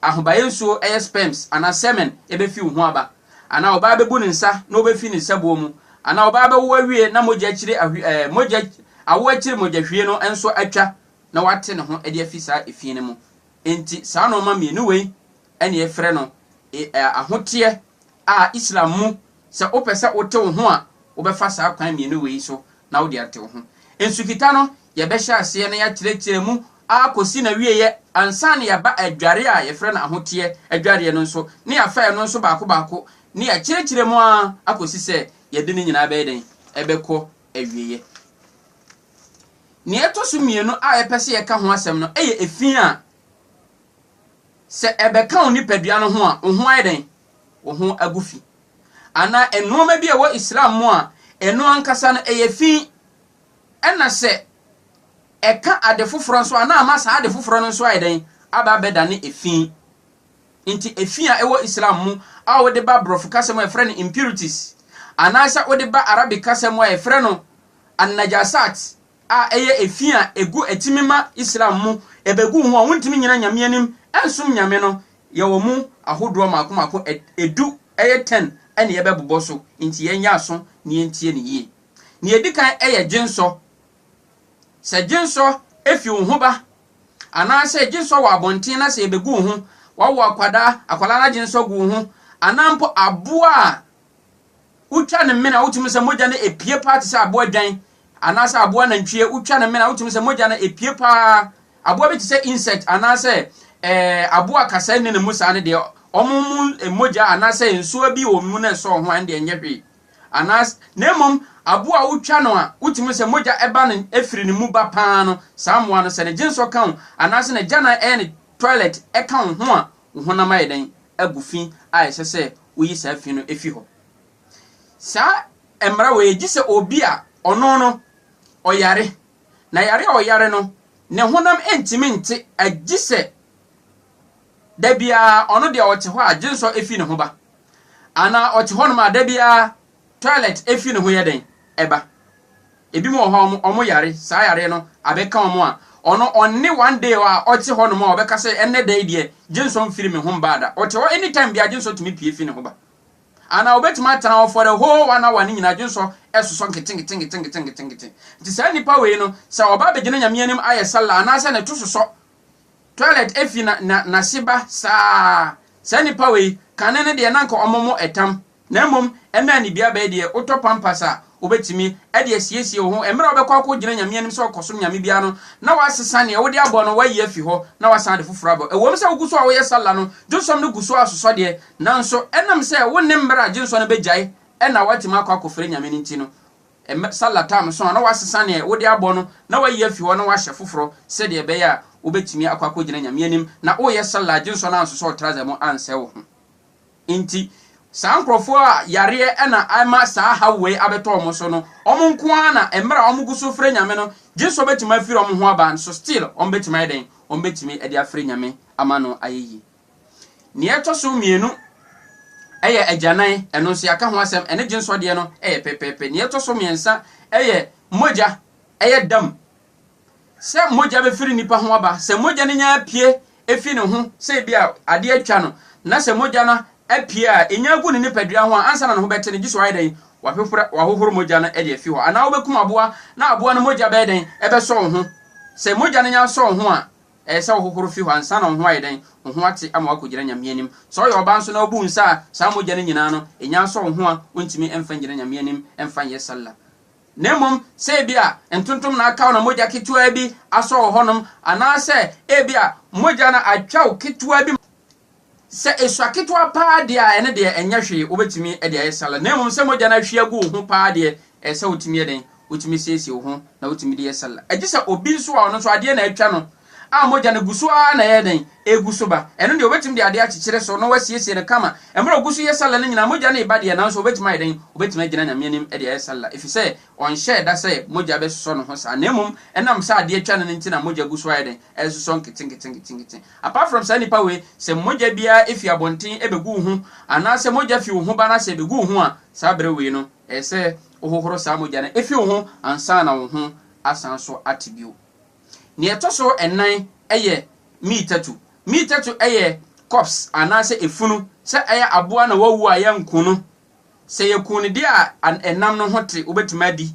ahobaeɛ nsuo, ɛyɛ sperms anaa semen, bɛfi wo ho aba, anaa ɔbaa bɛbu ne nsa na ɔbɛfi ne nsabuo mu, anaa ɔbaa bɛwo awie na mogya akyiri ahwi ɛɛ mogya awo akyiri mogyahwie no nso atwa na wate ne ho de afi saa efie no mu. Enti saa nnoɔma mmienu wei na yɛfrɛ no e ɛɛ ahoteɛ a Islam mu sɛ wopɛ sɛ wote wo ho a wobɛfa saa kwan mmienu wei so na wode ate wo ho. Nsukita no Yɛbɛhyɛ aseɛ na yɛakyerɛkyerɛ mu ara kɔsi n'awieɛ ansa na yɛaba adwareɛ a yɛfrɛ no ahoteɛ adwareɛ no nso, na yɛafa ɛno nso baako baako, na yɛakyerɛkyerɛ mu ara akɔsi sɛ yɛde ne nyinaa bɛyɛ dɛn? Ɛbɛkɔ awieɛ. Nea ɛtɔ so mmienu a yɛpɛ sɛ yɛka ho asɛm no yɛ efi a sɛ ɛbɛka wo nipadua no ho a, wo ho ayɛ dɛn? Wo ho agu fi. Anaa nnoɔma bi a ɛwɔ Islam mu a, ɛno ankasa no ɛyɛ fi Ɛna sɛ ɛka ade foforɔ nso a, na ama saa ade foforɔ no nso ayɛ dɛn? Aba abɛdane efi. Nti efi a ɛwɔ Islam mu a wode ba Borɔfo kasa mu a yɛfrɛ no impurities, anaasɛ wode ba Arabic kasa mu a yɛfrɛ no an-najasat a ɛyɛ efi a ɛgu atumi ma Islam mu ɛbɛgu wo ho a wontumi nnyina Nyame anim ɛnsom Nyame no, yɛwɔ mu ahodoɔ mmaako mmaako, ɛdu, ɛyɛ ten, ɛna yɛbɛbobɔ so. Nti yɛnyɛ aso na yɛntie no yie. Nea edi kan yɛ gyensɔ. Sɛ gyensɔ fi wo ho ba, anaasɛ gyensɔ wɔ abɔnten na sɛ yɛbɛgu wo ho, wawo akwadaa, akwadaa no agyensɔ gu wo ho, anaa mpo aboa a wotwa ne mene a wotumi sɛ mogya no epie paa te sɛ aboa dwan anaasɛ aboa nantwie, wotwa ne mene a wotumi sɛ mogya no epie paa. Aboa bi te sɛ insect anaasɛ ɛɛ eh, aboa a kasa nni ne mu saa no deɛ, wɔn mu eh, mogya anaasɛ nsuo bi wɔ mu na ɛsɔ ho a ɛnde ɛnyɛ hwee. anaas na mmom aboa a wotwa no a wotumi sɛ mogya ba no firi ne mu ba paa no, saa mmoa no sɛ ne gyensɔ ka wo anaase n'agyanan ɛyɛ ne toilet ɛka wo ho a, wo honam ayɛ dɛn? agu fi a ɛsɛ sɛ woyi saa fi no fi hɔ. Saa mmara wei gye sɛ obi a ɔno no ɔyare, na yare a ɔyare no ne honam ntumi nte agye sɛ Da biara ɔno deɛ ɔte hɔ a gyensɔ fi ne ho ba. Anaa ɔte hɔnom a da biara toilet fi ne ho yɛ dɛn? Ɛba. Ebinom wɔ hɔ a wɔn yare, saa yareɛ no abɛka wɔn a, ɔno ɔnne one day a ɔte hɔnom a ɔbɛka sɛ ɛnnɛ da yi deɛ gyensɔ mfiri me ho mbaa da. Ɔte hɔ any time biara gyensɔ tumi pue fi ne ho ba. Anaa ɔbɛtumi atena hɔ for the whole one hour no nyinaa gyensɔ sosɔ nketenketenketenketenketenkete. Nti saa nnipa wei no sɛ ɔba abɛgyina Nyame anim ayɛ sallah anaasɛ ne to sosɔ, Toilet efi na na nase ba saa saa nipa wei kane no deɛ na nka ɔmo mo ɛtam na mmom ɛmɛɛ ne bia bɛɛ deɛ wotɔ pampers a wobɛtumi ɛde asiesie wo ho ɛmmerɛ a wobɛkɔ akɔ gyina nyame anim sɛ ɔkɔsom nyame biara no na wasesa neɛ wode abɔ no wayi afi hɔ na wasan ade foforɔ abɔ ɛwom sɛ wogu so a woyɛ salla no dwonsɔm no gu so a sosɔ deɛ nanso ɛnam sɛ wonnim mmerɛ a gyensɔ no bɛgyae ɛna watumi akɔ akɔfrɛ nyame no nti no Mmɛ sa latam nso a na woasesa nea wode abɔ no na woayi afi hɔ na woahyɛ foforɔ sɛdeɛ ɛbɛyɛ a wobɛtumi akɔ akɔgyina Nyame anim na woreyɛ Salah gye nso na anso sɛ ɔtrazɛ mu ansɛe wo ho. Enti saa nkorɔfoɔ a yareɛ na ɛma saa haw wei abɛtɔ wɔn so no, wɔn nko ara na mmerɛ a wɔgu so frɛ Nyame no gye nso wɔbɛtumi afiri wɔn ho aba nso still wɔbɛtumi ayɛ dɛn? Wɔbɛtumi de afrɛ Nyame ama no ayɛ yie. Nea ɛtɔ so mmienu yɛ agyanan, ɛno nso yɛaka ho asɛm, ɛne gyensɔ deɛ no yɛ pɛpɛɛpɛ. Nea ɛtɔ so mmiɛnsa yɛ mogya, ɛyɛ dam sɛ mogya bɛfiri nipa ho aba. Sɛ mogya no nya apue efi ne ho sɛ ebi a adeɛ atwa no, na sɛ mogya no apue a ɛnya agu ne nipadua ho a, ansa na ne ho bɛte no, gye sɛ wayɛ dɛn? Wahwehwora, wahohoro mogya no de afi hɔ. Anaa wobɛkum aboa na aboa no mogya bɛyɛ dɛn? Ɛbɛsɔ wo ho. Sɛ mogya no nya sɔ wo ho a, Ɛyɛ sɛ wohohoro fi hɔ ansa na wo ho ayɛ dɛn? Wo ho ate ama woakogyina Nyame anim. Sɛ ɔyɛ ɔbaa nso na obu nsa a, saa mogya no nyinaa no, nya nsɔ wo ho a wontumi mfa ngyina Nyame anim mfa nyɛ Sallah. Na mmom sɛ ebia ntontom na aka wo na mogya ketewaa bi asɔ wo hɔnom, anaasɛ ebia mogya no atwa wo ketewaa bi, Sɛ esua ketewa paa deɛ a, ɛno deɛ ɛnyɛ hwee, wobɛtumi de ayɛ salad. Na mmom sɛ mogya no ahwie agu wo ho paa deɛ, ɛsɛ sɛ wotumi yɛ dɛn? Wotumi siesie wo ho na wotumi de yɛ salad. Gye sɛ obi nso a ɔno nso adeɛ na atwa no a mogya no gu so ara na ɛyɛ dɛn? Ɛregu so ba. Ɛno deɛ, wobɛtumi de adeɛ akyekyere so na woasiesie no kama. Mmerɛ a ɔgu so yɛ salad no nyinaa, mogya no reba deɛ, nanso ɔbɛtumi ayɛ dɛn? Ɔbɛtumi agyina Nyame anim de ayɛ salad, ɛfiri sɛ ɔnhyɛɛ da sɛ mogya bɛsosɔ ne ho saa. Na mmom ɛnam sɛ adeɛ atwa no no nti na mogya gu so ayɛ dɛn? Ɛresosɔ nketenkete nketenkete. Apart from saa nipa wei, sɛ mogya biara efi abɔnten ɛbɛgu wo ho anaa sɛ mogya fi wo ho ba na sɛ ɛbɛgu wo ho a, saa berɛ wei no ɛyɛ sɛ wohohoro saa mogya no efi wo ho ansa na wo ho asan nso ate bio. Nea ɛtɔ so nnan ɛyɛ miitatu. Miitatu ɛyɛ corpse anaa sɛ efunu, sɛ ɛyɛ aboa na wawu a yɛnku no, sɛ yɛku no deɛ a ɛnam no ho te wobɛtumi adi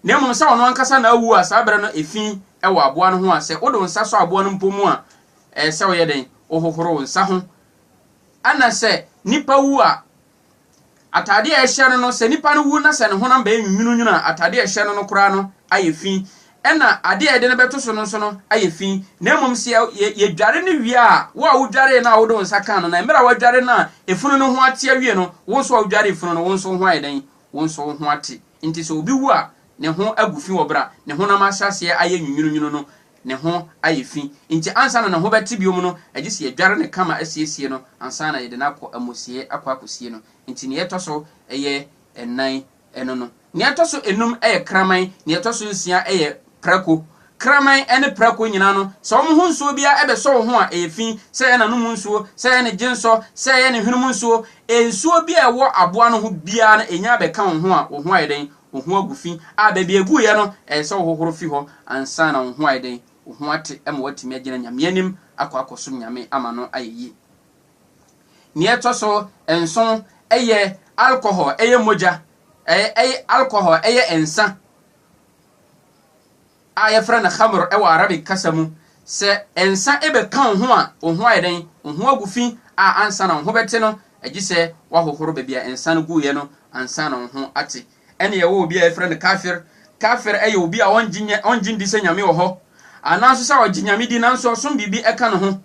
na mmom sɛ ɔno ankasa na awu a saa bere no efi wɔ aboa no ho a sɛ wode wo nsa sɔ aboa no mpo mu a ɛyɛ sɛ woyɛ dɛn? Wohohoro wo nsa ho. Ɛna sɛ nipa wu a, atade a ɛhyɛ no no, sɛ nipa no wu na sɛ ne honam bɛyɛ nwunwununwunu a, atade a ɛhyɛ no no koraa no ayɛ fi. Ɛna ade a yɛde no bɛto so no nso no ayɛ fi. Na mmom sɛ yɛdware no wie a, wo a wodwaree no a wode wo nsa kaa no no, mmerɛ a woadware no a efunu no ho ate awie no, wo nso a wodwaree funu no, wo nso wo ho ayɛ dɛn? Wo nso wo ho ate. Enti sɛ obi wu a, ne ho agu fi wɔ bere a ne honam ahyɛ aseɛ ayɛ nwunwununwunu no, ne ho ayɛ fi. Enti ansa na ne ho bɛte bio no, ɛgye sɛ yɛdware no kama siesie no ansa na yɛde no akɔ amusiei akɔ akɔsie no. Enti nea ɛtɔ so yɛ nnan no no. Nea ɛtɔ so enum yɛ kraman, nea ɛtɔ so nsia yɛ prako, Kraman ne prako nyinaa no, sɛ wɔn ho nsuo biara bɛsɔ wo ho a, ɛyɛ fi, sɛ ɛyɛ n'anom nsuo, sɛ ɛyɛ ne gyensɔ, sɛ ɛyɛ ne hwenem nsuo, nsuo biara a ɛwɔ aboa no ho biara no, ɛnya bɛka wo ho a, wo ho ayɛ dɛn? Wo ho agu fi. A Baabi a ɛguiɛ no, ɛyɛ sɛ wohohoro fi hɔ ansa na wo ho ayɛ dɛn? Wo ho ate ma woatumi agyina Nyame anim akɔ akɔsom Nyame ama no ayɛ yie. Nea ɛtɔ so nson yɛ alcohol, ɛyɛ mogya, ɛyɛ alcohol, ɛyɛ nsa. a wɔfrɛ no khamr wɔ Arabic kasa mu. Sɛ nsa bɛka wo ho a, wo ho ayɛ dɛn? Wo ho agu fi a ansa na wo ho bɛte no, gye sɛ woahohoro baabi a nsa no guiɛ no ansa na wo ho ate. Ɛnna yɛwɔ obi a wɔfrɛ no kafir. Kafir yɛ obi a ɔnnye nni sɛ Nyame wɔ hɔ, anaa nso sɛ ɔgye Nyame di nanso ɔsom biribi ka ne ho,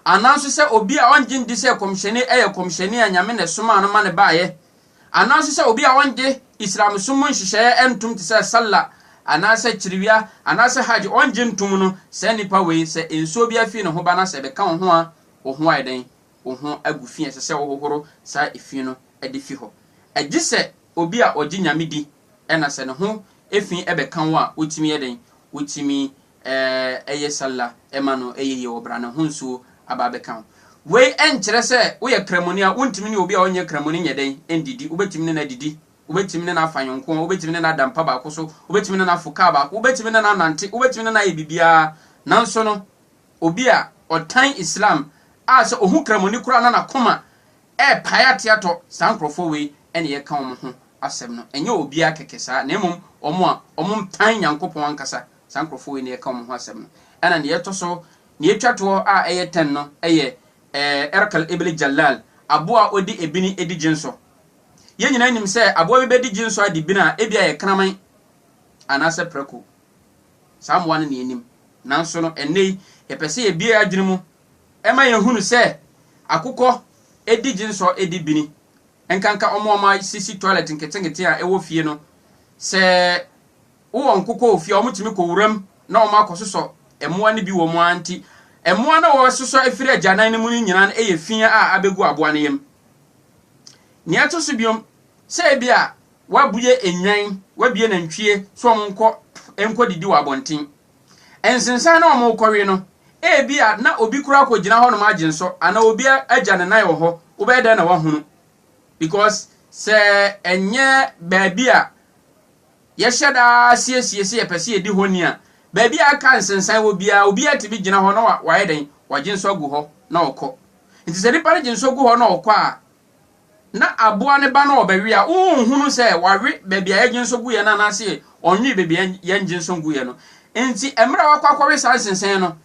anaa nso sɛ obi a ɔnnye nni sɛ Kɔmhyɛni yɛ Kɔmhyɛni a Nyame na ɛsomaa no ma no baeɛ, anaase sɛ obi a ɔnngye Islamsom mu nhyehyɛeɛ ntom te sɛ Salla anaasɛ kyerewia anaasɛ Hajj ɔnngye ntom no, saa nipa wei sɛ nsuo bi afiri ne ho ba na sɛ ɛbɛka wo ho a wo ho ayɛ dɛn? Wo ho agu fi a ɛsɛ sɛ wo hohoro saa efi no de fi hɔ. Gye sɛ obi a ɔgye Nyame di na sɛ ne ho efi bɛka wo a wotumi yɛ dɛn? Wotumi Ɛɛ, ɛyɛ sallah, ɛma no ɛyɛ yie wɔ brane ho nsuo aba abɛka ho. Wei ɛnkyerɛ sɛ woyɛ kramoni a wontumi ne obi a ɔnyɛ kramoni nyɛ dɛn ndidi, wobɛtumi ne no adidi, wobɛtumi ne no afa yonko, wobɛtumi ne no ada mpa baako so, wobɛtumi ne no afo kaa baako, wobɛtumi ne no anante, wobɛtumi ne no ayɛ biribiara, nanso no obi a ɔtan Islam a sɛ ɔhu kramoni koraa na n'akoma ɛrepae ateatɔ, saa nkorɔfoɔ wei na yɛreka wɔn ho asɛm no, ɛnyɛ obiara kɛkɛ saa na mmom wɔn a wɔtan Nyankopɔn ankasa Saa nkurɔfoɔ wei na yɛka wɔn ho asɛm no. Ɛna deɛ ɛtɔ so, deɛ ɛtwa toɔ a ɛyɛ tɛn no yɛ Erkal ibn Jallal, aboa a ɔdi ebini di gyensɔ. Yɛn nyinaa nim sɛ aboa bi bɛdi gyensɔ adi bini a, ebia ɛyɛ kraman anaasɛ prako. Saa mmoa no na yɛnim. Nanso no, ɛnnɛ yi, yɛpɛ sɛ yɛbue yɛn adwene mu ma yɛhunu sɛ akokɔ di gyensɔ di bini, ɛnkanka wɔn a wɔasisi toilet nketenkete a ɛwɔ fie no. Sɛ. Wo wɔn ko kɔɔ fie a wɔtumi kɔ wuram na wɔn akɔ sosɔ mmoa no bi wɔ mu ara nti, mmoa no a wɔsosɔ firi agyanan no mu no nyinaa no yɛ fi a abegu aboa no yam. Nea ɛto so biom, sɛ ebia woabue nnwan, woabue nantwie sɛ wɔn nkɔ nkɔ didi wɔ abɔnten. Nsensan no a wɔn rekɔwe no, ebia na obi koraa akɔ gyina hɔ nom agye nsɔ anaa obi agya ne nan wɔ hɔ, wobɛyɛ dɛn na woahunu? Because sɛ ɛnyɛ baabi a Yɛhyɛ da ara siesie sɛ yɛpɛ sɛ yɛdi hɔ ni a, baabi a ɛka nsensan wɔ biara, obiara tumi gyina hɔ na wayɛ dɛn? Wagye nsɔ agu hɔ na ɔkɔ. Enti sɛ nipa no gye nsɔ gu hɔ na ɔkɔ a, na aboa no ba na ɔbɛwe a, wonhunu sɛ wawe baabi a yɛgye nsɔ guiɛ no anaasɛ ɔnwee baabi a yɛngye nsɔ nguiɛ no. Enti mmerɛ a wakɔ akɔwe saa nsensan no,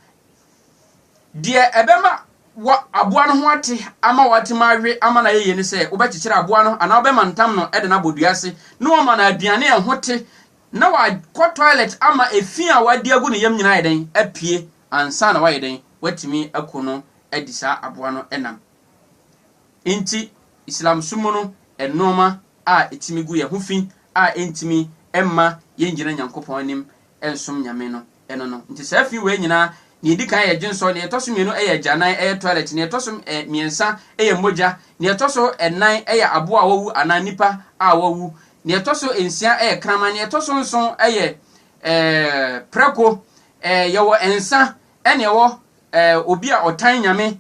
Deɛ ɛbɛma wɔ aboa no ho ate ama watumi awe ama no ayɛ yie ne sɛ wobɛkyekyere aboa no anaa wobɛmantam no de no abɔ dua ase na woama no aduane a ɛho te na wakɔ toilet ama efi a wadi agu ne yam nyinaa ayɛ dɛn? Apue ansa na wayɛ dɛn? Watumi aku no adi saa aboa no nam. Enti Islam som mu no, nnoɔma a ɛtumi gu yɛn ho fi a ɛntumi mma yɛngyina Nyankopɔn anim nsom Nyame no, ɛno no. Nti saa fi wei nyinaa, nea ɛdi kan yɛ dwensɔ, nea ɛtɔ so mmienu yɛ agyanan, ɛyɛ toilet, nea ɛtɔ so eh, mmiɛnsa yɛ mogya, nea ɛtɔ so nnan yɛ aboa a wawu anaa nnipa a wawu, nea ɛtɔ so nsia yɛ kraman, nea ɛtɔ so nson yɛ eh, prɛko, eh, yɛwɔ nsa, ɛne ɛwɔ eh, obi a ɔtan Nyame,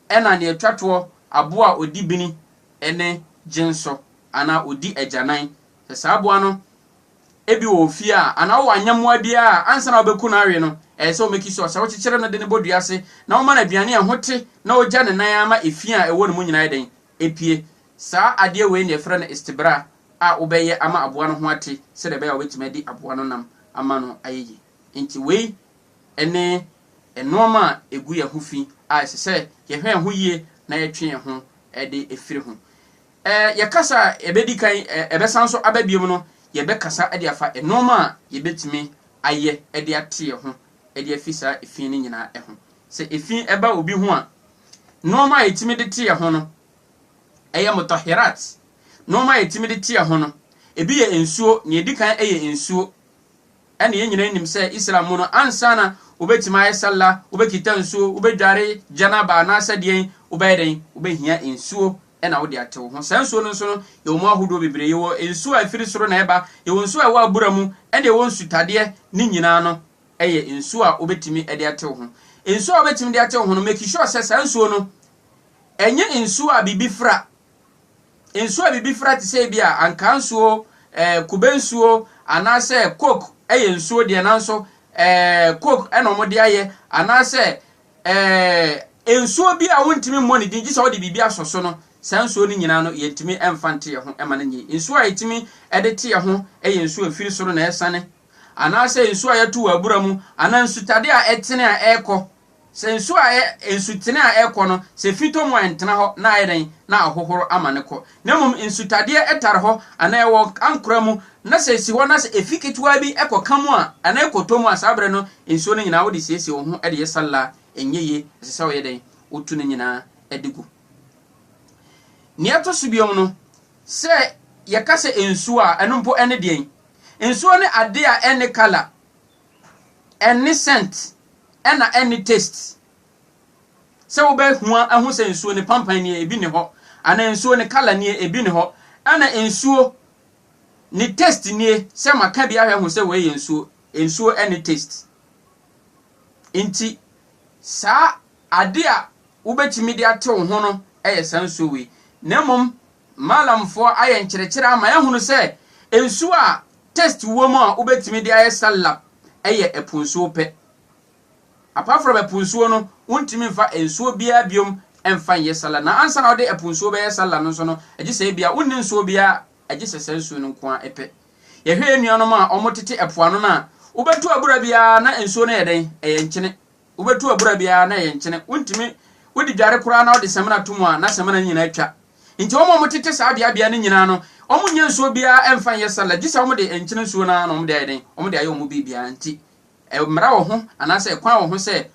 ɛna nea ɛtwa toɔ aboa a ɔdi bini ne gyensɔ anaa ɔdi agyanan. Sɛ saa aboa no Ebi wɔ ofie a anaa ɔwɔ anyɛmmoa bi a ansa na wobɛku no awe no, ɛyɛ sɛ womeki so. Sɛ wokyekyere no de no bɔ dua ase na woma no aduane a ɛho te na wogya ne nan ara ma efi a ɛwɔ ne mu nyinaa yɛ dɛn? Epue. Saa adeɛ wei na yɛfrɛ no istibra a wobɛyɛ ama aboa no ho ate sɛdeɛ ɛbɛyɛ a wobɛtumi adi aboa no nam ama no ayɛ yie. Enti wei ne nnoɔma a ɛgu yɛn ho fi a ɛsɛ sɛ yɛhwɛ yɛn ho yie na yɛtwe yɛn ho de firi ho. Ɛ, yɛ kasa a ɛbɛdi kan, ɛ, ɛbɛsan nso aba biom no, yɛbɛkasa de afa nnoɔma a yɛbɛtumi ayɛ de ate yɛ ho de afi saa ɛfii no nyinaa ho. Sɛ ɛfii ɛba obi ho a, nnoɔma a yɛtumi de te yɛ ho no, ɛyɛ motɔheraat, nnoɔma a yɛtumi de te yɛ ho no, ɛbi yɛ nsuo, nea ɛdi kan yɛ nsuo, Ɛne yɛn nyinaa nim sɛ Islam mu no ansa na wobɛtumi ayɛ Sallah, wobɛkita nsuo, wobɛdware Janaba anaasɛ deɛn, wobɛyɛ dɛn, wobɛhia nsuo na wode ate wo ho. Saa nsuo no nso no, yɛwɔ mu ahodoɔ bebree. Yɛwɔ nsuo a ɛfiri soro na ɛba, yɛwɔ nsuo a ɛwɔ abura mu, ɛne ɛwɔ nsutadeɛ, ne nyinaa no yɛ nsuo a wobɛtumi de ate wo ho. Nsuo a wobɛtumi de ate wo ho no, make sure sɛ saa nsuo no, ɛnyɛ nsuo a biribi fra. nsu a biribi fra te sɛ ebia ankaa nsuo, eh, kube nsuo, anaasɛ coke yɛ nsuo deɛ nanso eh, coke na wɔde ayɛ, anaasɛ eh, nsuo bi a wontumi mmɔ ne din gye sɛ wode biribi asɔ so no, saa nsuo no nyinaa no yɛntumi mfa nte yɛn ho ma no nyɛ. Nsuo a yɛtumi de te yɛn ho yɛ nsuo a ɛfiri soro na ɛresiane, anaasɛ nsuo a yɛto wɔ abura mu, anaa nsutade a ɛtene a ɛrekɔ Sɛ nsu a ɛyɛ nsutene a ɛrekɔ no, sɛ efi tɔ mu a ɛntena hɔ na ayɛ dɛn na ahohoro ama no kɔ. Na mmom nsutadeɛ tare hɔ anaa ɛwɔ ankora mu na sɛ esi hɔ na sɛ efi ketewa bi kɔka mu a anaa ɛkɔtɔ mu a saa berɛ no nsuo no nyinaa wode siesie wo ho de yɛ salla a ɛnyɛ yie, ɛsɛ sɛ woyɛ dɛn? Wotu ne nyinaa de gu. Nea ɛto so biom no, sɛ yɛka sɛ nsuo a ɛno mpo ɛne deɛn? Nsuo ne adeɛ a ɛnne colour. Ɛnne scent ɛna ɛnne taste. Sɛ wobɛ hua ahu sɛ nsuo no pampan nie ebi nni hɔ anaa nsuo no colour nie ebi nni hɔ ɛna nsuo ne taste nie sɛ ma ka bi ahwɛ ahu sɛ wei yɛ nsuo nsuo ɛnne taste. Nti saa ade a wobɛtumi de ate wo ho no ɛyɛ saa nsuo wei. Na mmom Maalamfoɔ ayɛ nkyerɛkyerɛ ama yɛahunu sɛ nsuo a Test wom a wobɛtumi de ayɛ sallah yɛ ɛpo nsuo pɛ. Apart from ɛpo nsuo no, wontumi mfa nsuo biara biom mfa nyɛ sallah. Na ansa na wode ɛpo nsuo bɛyɛ sallah no nso no, gye sɛ ebia wonni nsuo biara gye sɛ saa nsuo no nko ara pɛ. Yɛhwɛ yɛn nuanom a wɔtete ɛpo ano no a, wobɛto abura biara na nsuo no yɛ dɛn? Ɛyɛ nkyene. Wobɛtu abura biara na ɛyɛ nkyene. Wontumi, wode dware koraa na wode samina to mu a, na samina no nyinaa atwa. Enti wɔn a wɔtete saa beabea no nyinaa no, wɔnyɛ nsuo biara mfa nyɛ salad, gye sɛ wɔde nkyene nsuo no ara na wɔde ayɛ dɛn? Wɔde ayɛ wɔn biribiara. Enti mmara wɔ ho, anaasɛ ɛkwan wɔ ho sɛ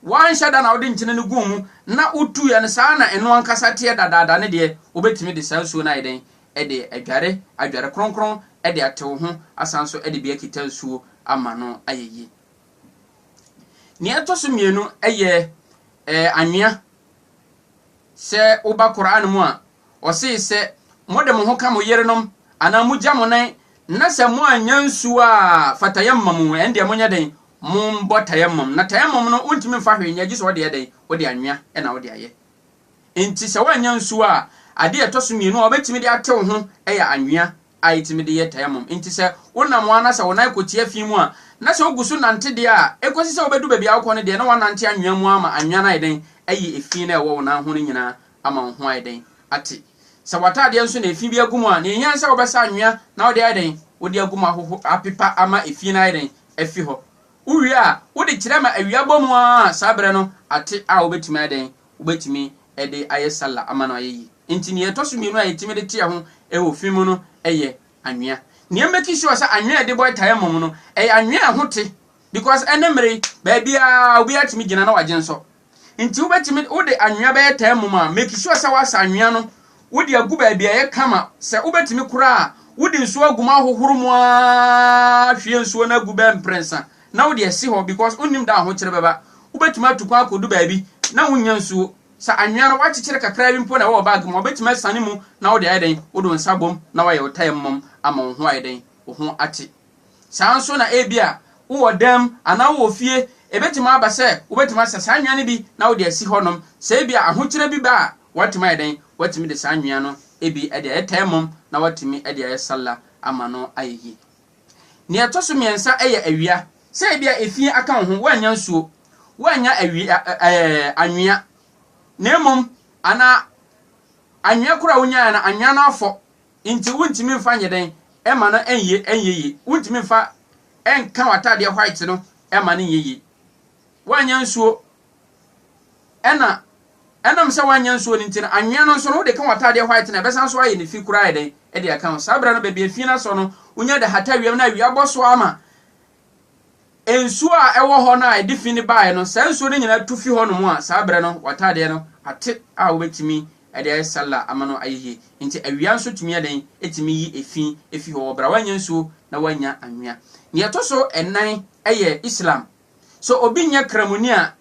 woanhyɛ da na wode nkyene no guu mu na wotuiɛ no, saa ara na ɛno ankasa teɛ dadaada no deɛ, wobɛtumi de saa nsuo no ayɛ dɛn? De adware, adware kronkron de ate wo ho, asan nso de bi akita nsuo ama no ayɛ yie. Nea ɛtɔ so mmienu yɛ ɛɛ anwea. Sɛ woba Koran mu a, ɔsee sɛ, Mode mo ho ka mo yerenom anaa mogya mo nan na sɛ moannya nsuo a fa tayammam mu, ɛndeɛ monyɛ dɛn? Mombɔ tayammam. Na tayammam no, wontumi mfa hwee nyɛ gye sɛ wode yɛ dɛn? Wode anwea na wode ayɛ. Enti sɛ woannya nsuo a, adeɛ a ɛtɔ so mmienu a wobɛtumi de atew ho yɛ anwea. a etumi de yɛ tayammum. Enti sɛ wonam wo ara na sɛ wo nan kɔ tia fi mu a, na sɛ wugu so nante deɛ a, ekosi sɛ wubedu baabi a wokɔ no deɛ, na woanante anwea mu ara ma anwea no ayɛ dɛn ayi efi no a ɛwɔ wo nan ho no nyinaa ama wo ho ayɛ dɛn ate. Sɛ w'ataadeɛ nso na efi bi agu mu a, nea ehia ne sɛ wobɛsa anwea na wode ayɛ dɛn, wode agu mu ahoho apepa ama efi no ayɛ dɛn afi hɔ. Wuwie a, wode kyerɛ ma awia bɔ mu ara a saa bere no ate a wobetumi ayɛ dɛn wobetumi de ayɛ sallah ama no ayɛ yie. Enti nea ɛtɔ so mmienu a yetumi de teɛ ho wɔ fi mu no yɛ anwea. Nea ɛmmake sure sɛ anwea a yɛde bɔ tayammum no, ɛyɛ anwea a ɛho te because ɛnnɛ mmere yi, baabiara obiara tumi gyina na wagye nsɔ. Enti wobetumi wode anwea bɛyɛ tayammum a, make sure sɛ woasa anwea no, wode agu baabi a ɛyɛ kama. Sɛ wobetumi koraa a, wode nsuo agu mu ahohoro mu ara hwie nsuo no agu bɛyɛ mprɛnsa na wode asi hɔ because wonnim da a ahokyere bɛba. Wobɛtumi atu kwan akɔdu baabi na wonnya nsuo. Sɛ anwea no woakyekyere kakra bi mpo na ɛwɔ wo bag mu a, wobɛtumi asiane mu na wode ayɛ dɛn? Wode wo nsa abom na woayɛ wo tayammam ama wo ho ayɛ dɛn? Wo ho ate. Saa ara nso na ebia wowɔ dan mu anaa wowɔ fie, ɛbɛtumi aba sɛ wobɛtumi asa saa anwea no bi na wode asi hɔnom. Sɛ ebia ahokyere bi ba a, woatumi ayɛ dɛn? Woatumi de saa anwea no bi de ayɛ tayammam na woatumi de ayɛ Salah ama no ayɛ yie. Nea ɛtɔ so mmiɛnsa yɛ awia. Sɛ ebia efie aka wo ho, woannya nsuo, woannya awia ɛɛ anwea, na mmom anaa anwea koro a wonyaeɛ no, anwea no afɔ, nti wontumi mfa nyɛ dɛn ɛma no ɛnyɛ ɛnyɛ yie. Wontumi mfa ɛnka w'ataadeɛ white no ɛma no nyɛ yie. Woannya nsuo. Ɛna ɛnam sɛ woanyɛ nsuo no nti no, anwea no nso no, wode ka w'ataadeɛ white no a, ɛbɛsan so ayɛ no fi koraa ayɛ dɛn de aka ho. Saa berɛ no, baabi a fi no asɔ no, wonya de hata wiem na awia bɔ so ara ma nsuo a ɛwɔ hɔ no a ɛde fi no baeɛ no, saa nsuo no nyinaa tu fi hɔnom a, saa berɛ no, w'ataadeɛ no ate a wobɛtumi de ayɛ salla ama no ayɛ yie. Enti awia nso tumi yɛ dɛn? Ɛtumi yi efi fi hɔ wɔ berɛ a woanyɛ nsuo na woannya anwea. Deɛ ɛtɔ so nnan yɛ Islam So obi nyɛ Kramoni a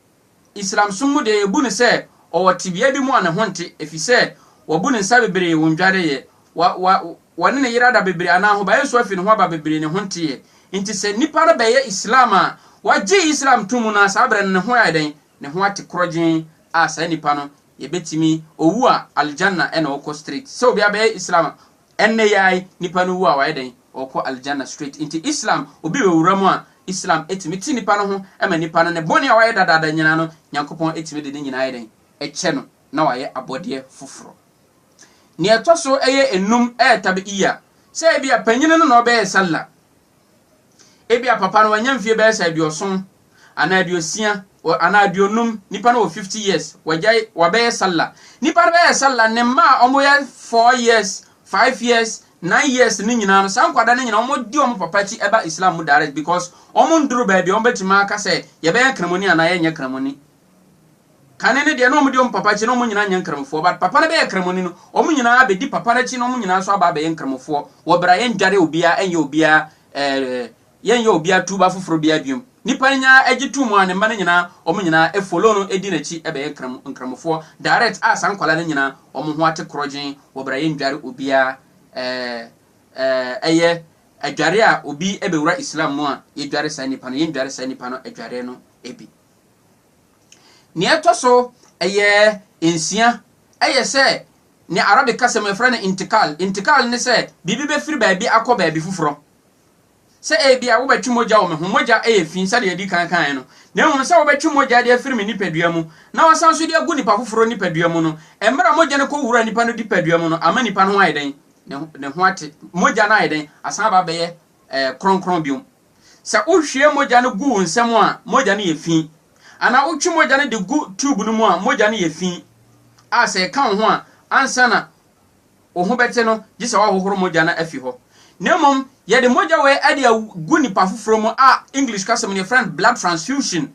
Islamsom mu de ebu no sɛ ɔwɔ tebea bi mu a ne ho nte efisɛ wabu ne nsa bebree wɔ ndwareyɛ, wa wa wɔne ne yere ada bebree anaa ahobaeɛ nso afi ne ho aba bebree ne ho nteɛ? Nti sɛ nipa no bɛyɛ Islam a wagye Islam to mu no a saa berɛ no ne ho ayɛ dɛn? Ne ho ate korɔgyenn a saa nipa no yɛbɛtumi, owu a Aljanna ɛna ɔkɔ straight. Sɛ obiara bɛyɛ Islam a Ɛnnɛ yi ara nipa no wu a wayɛ dɛn? Ɔkɔ Aljanna straight. Nti Islam obi bɛwura mu a, Islam tumi te nipa no ho ma nipa no ne bɔne a wayɛ dadaada nyinaa no Nyankopɔn tumi de ne nyinaa yɛ dɛn? Kyɛ no na wayɛ abɔdeɛ foforɔ. Nea ɛtɔ so ɛyɛ nnum ɛyɛ tab'iyya, sɛ ebia panyini no na ɔbɛyɛ Sallah, ebia papa no wanya mfie bɛyɛ sɛ aduɔson anaa aduosia wɔ anaa aduonum nipa no wɔ fifty years wagyae wabɛyɛ sallah nipa no bɛyɛ sallah ne mma a wɔn yɛ four years five years nine years ne nyinaa no saa nkwadaa no nyinaa wɔn di wɔn papa akyi ɛba islam mu direct because wɔn nduru baabi wɔn bɛtumi aka sɛ yɛbɛyɛ nkramoni anaa yɛnyɛ nkramoni kane no deɛ na wɔn di wɔn papa akyi na wɔn nyinaa nyɛ nkramofoɔ but papa no bɛyɛ kramoni no wɔn nyinaa bɛdi papa no akyi na wɔn nyinaa nso aba abɛyɛ nkramofoɔ wɔ bra yɛn dware obiara ɛnyɛ obiara ɛɛ Yɛnyɛ obia tuuba foforo biaa biom. Nipa no nyaa ɛgye too mu a ne mma no nyinaa wɔn nyinaa e follow no edi nakyi bɛyɛ nkramu nkramufoɔ direct a saa nkwadaa no nyinaa wɔn ho ate korɔgyeen wɔ bra yɛndware obia ɛɛ ɛyɛ adware a obi bɛwura Islam mu a yɛdware saa nipa no yɛndware saa nipa no adware no bi. Nea ɛtɔ so ɛyɛ nsia ɛyɛ sɛ nea Arabic kasa mu yɛfrɛ no intikal intikal ne sɛ biribi bɛfiri baabi akɔ baabi foforɔ. sɛ ebia wobɛtwe mogya wɔ me ho, mogya yɛ fi sɛdeɛ yɛadi kan kaeɛ no, na mmom sɛ wobɛtwe mogya de afiri me nipadua mu na woasan nso de agu nipa foforɔ nipadua mu no, mmerɛ a mogya no kɔwura nipa no dipadua mu no, ama nipa no ho ayɛ dɛn? Ne ho ate. Mogya no ayɛ dɛn? Asan aba abɛyɛ eh, kronkron biom. Sɛ wohwie mogya no gu wo nsa mu a, mogya no yɛ fi. Anaa wotwe mogya no de gu tube no mu a, mogya no yɛ fi a sɛ ɛka wo ho a, ansa na wo ho bɛte no gye sɛ woahohoro mogya no afi hɔ. Na mmom yɛde mogya wei de agu nnipa foforɔ mu a English kasa mu no yɛfrɛ no blood transfusion,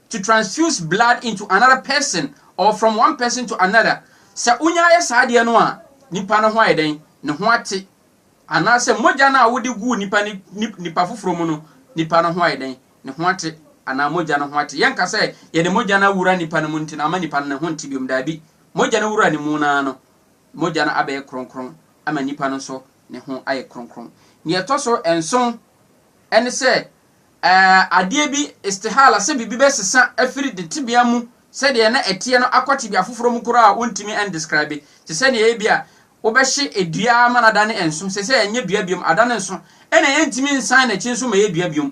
to transfuse blood into another person or from one person to another. Sɛ wonya yɛ saa adeɛ no a, nipa no ho ayɛ dɛn? Ne ho ate. Anaasɛ mogya no a wode guu nipa no nipa foforɔ mu no, nipa no ho ayɛ dɛn? Ne ho ate anaa mogya no ho ate. Yɛnka sɛ yɛde mogya no awura nipa no mu nti no ama nipa no ne ho nte biom. Daabi. Mogya no wuraa ne mu no ara no, Mogya no abɛyɛ kronkron ama nnipa no nso ne ho ayɛ kronkron. Nea ɛtɔ so nson ne sɛ, adeɛ bi, istihala, sɛ biribi bɛsesa afiri ne tebea mu sɛdeɛ na ɛteɛ no akɔ tebea foforɔ mu koraa a wontumi ndescribe, te sɛ nea ebia wobɛhye dua ara ma no adane nso, seesei ɛnyɛ dua biom, adane nso, ɛnna ɛntumi nsan n'akyi nso mmɛyɛ dua biom.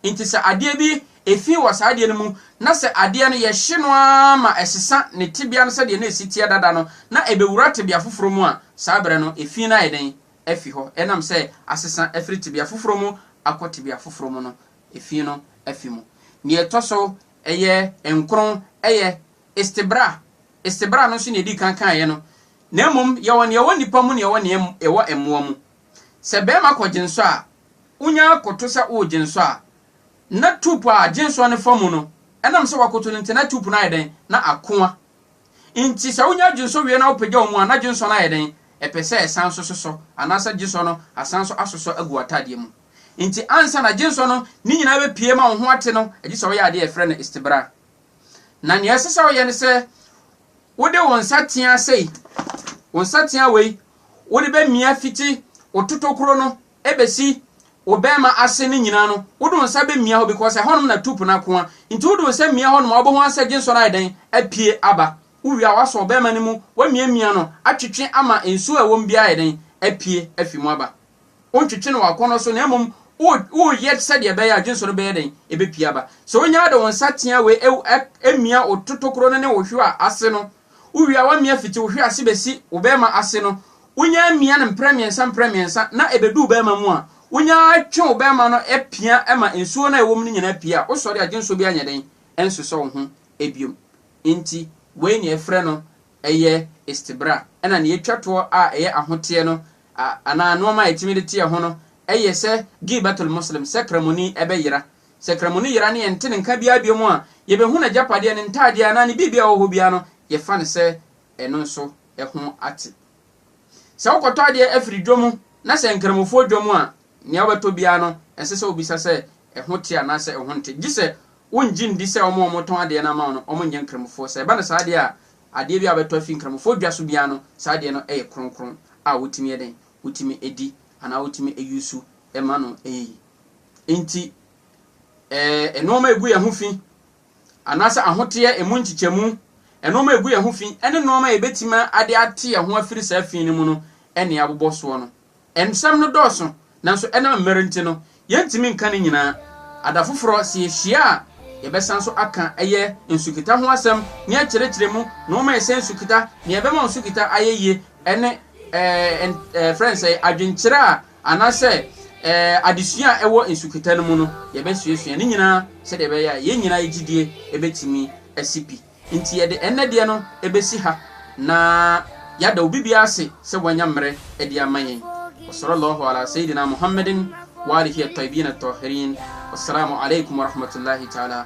Enti sɛ adeɛ bi fi wɔ saa adeɛ no mu, na sɛ adeɛ no yɛhye no ara ma ɛsesa ne tebea no sɛdeɛ na ɛsi teɛ dada no, na ɛbɛwura tebea foforɔ mu a, saa berɛ no efi no ayɛ dɛn? Afi hɔ. Ɛnam sɛ asesa afiri tebea foforɔ mu akɔ tebea foforɔ mu no, efi no afi mu. Deɛ ɛtɔ so ɛyɛ nkron yɛ istibra. Istibra no nso na yɛdii kan kaeɛ no, na mmom yɛwɔ no ɛwɔ nnipa mu na yɛwɔ no ɛwɔ mmoa mu. Sɛ barima kɔgye nsɔ a, wonya koto sɛ woregye nsɔ a, na tuupu a agye nsɔ no fa mu no, ɛnam sɛ wakoto no nti, na tuupu no ayɛ dɛn? Na akoa. Enti sɛ wonya gye nsɔ wie na wopagyaw mu a, na gye nsɔ no ayɛ dɛn? Ɛpɛ sɛ ɛsan nso sosɔ, anaasɛ gye nsɔ no asan nso asosɔ agu w'atadeɛ mu. Enti ansa na gye nsɔ no ne nyinaa bɛpue ma wo ho ate no, gye sɛ woyɛ adeɛ a wɔfrɛ no istibra. Na nea ɛsɛ sɛ woyɛ ne sɛ wode wo nsateaa sei, wo nsateaa wei, wode bɛmia fiti wo totokuro no bɛsi wo bɛɛma ase no nyinaa no, wode wo nsa bɛmia hɔ because ɛhɔnom na tup no akoa. Nti wode wo nsa mia hɔnom a wobɛhu ara sɛ gyensɔ no ayɛ dɛn? Apue aba. Wowie a woasɔ wo bɛɛma no mu, woamiamia no, atwetwe ama nsuo a ɛwɔ mu biara ayɛ dɛn? Apue afi mu aba. Wontwetwe no w'akɔnnɔ so na mmom woreyɛ sɛdeɛ ɛbɛyɛ a gyensɔ no bɛyɛ dɛn? Ɛbɛpue aba. Sɛ wonya ara de wo nsa tea wei mia wo totokuro no ne wo hwewa ase no, Wowia w'amia fiti wo hwe ase bɛsi wo bɛɛma ase no, wonya amia no mprɛ mmiɛnsa mprɛ mmiɛnsa na ɛbɛdu wo bɛɛma mu a, wonya ara twe wo bɛɛma no pia ma nsuo no a ɛwɔ mu no nyinaa pue a, wosɔre a gyensɔ biara nyɛ dɛn nsosɔ wo ho biom. Enti wei na yɛfrɛ no yɛ istibra. Ɛna nea ɛtwa toɔ a ɛyɛ ahoteɛ no anaa nnoɔma a yɛtumi de teɛ ho no yɛ sɛ giibatul muslim, sɛ kramoni bɛyera Sɛ Kramu no yera ne yɛnte ne nka biara biom a, yɛbɛhu n'agyapadeɛ, ne ntaadeɛ anaa ne biribi a ɛwɔ hɔ biara no, yɛfa no sɛ ɛno nso ho ate. Sɛ wokɔtɔ adeɛ afiri dwa mu na sɛ Nkramofoɔ dwa mu a, nea wobɛtɔ biara no, ɛnsɛ sɛ wobisa sɛ ɛho te anaasɛ ɛho nte, gye sɛ wongye nndi sɛ wɔn a wɔtɔn adeɛ no ama wo no, wɔnyɛ Nkramofoɔ. Sɛ ɛba no saa deɛ a, adeɛ biara a wobɛtɔ afi Nkramofoɔ dwa so biara no, saa adeɛ no yɛ kronkron a wotumi yɛ dɛn? Wotumi di anaa wotumi yusu ma no yie. Enti, ɛɛ nnoɔma a ɛgu yɛn ho fi, anaasɛ ahoteɛ, ɛmu nkyekyɛmu, nnoɔma a ɛgu yɛn ho fi, ɛne nnoɔma a yɛbɛtumi ade ate yɛn ho afiri saa fi no mu no ɛne abobɔ soɔ no. Nsɛm no dɔɔso, nanso ɛnam mmerɛ nti no, yɛntumi nka ne nyinaa. Ada foforɔ, sɛ yɛhyia a, yɛbɛsan nso aka ɛyɛ nsukita ho asɛm, ne akyerɛkyerɛ mu, nnoɔma a ɛsɛ nsukita, deɛ ɛbɛma nsukita ayɛ yie, ɛne ɛɛ ɛn ɛɛ frɛ no sɛn, adwenkyerɛ a Anaasɛ adesua a ɛwɔ nsuketa no mu no, yɛbɛsuasua ne nyinaa sɛdeɛ ɛbɛyɛ a yɛn nyinaa yɛ gyidie bɛtumi asi pi. Enti yɛde ɛnnɛ deɛ no bɛsi ha na yɛada obi biara ase sɛ wanya mmerɛ de ama yɛn. Wasala Allahu alaa Seyidina Muhammadin w'alihi atɔyibiina atɔɔhiriin. Wassalaamu alaikum warahmatullaahi ta'alaa.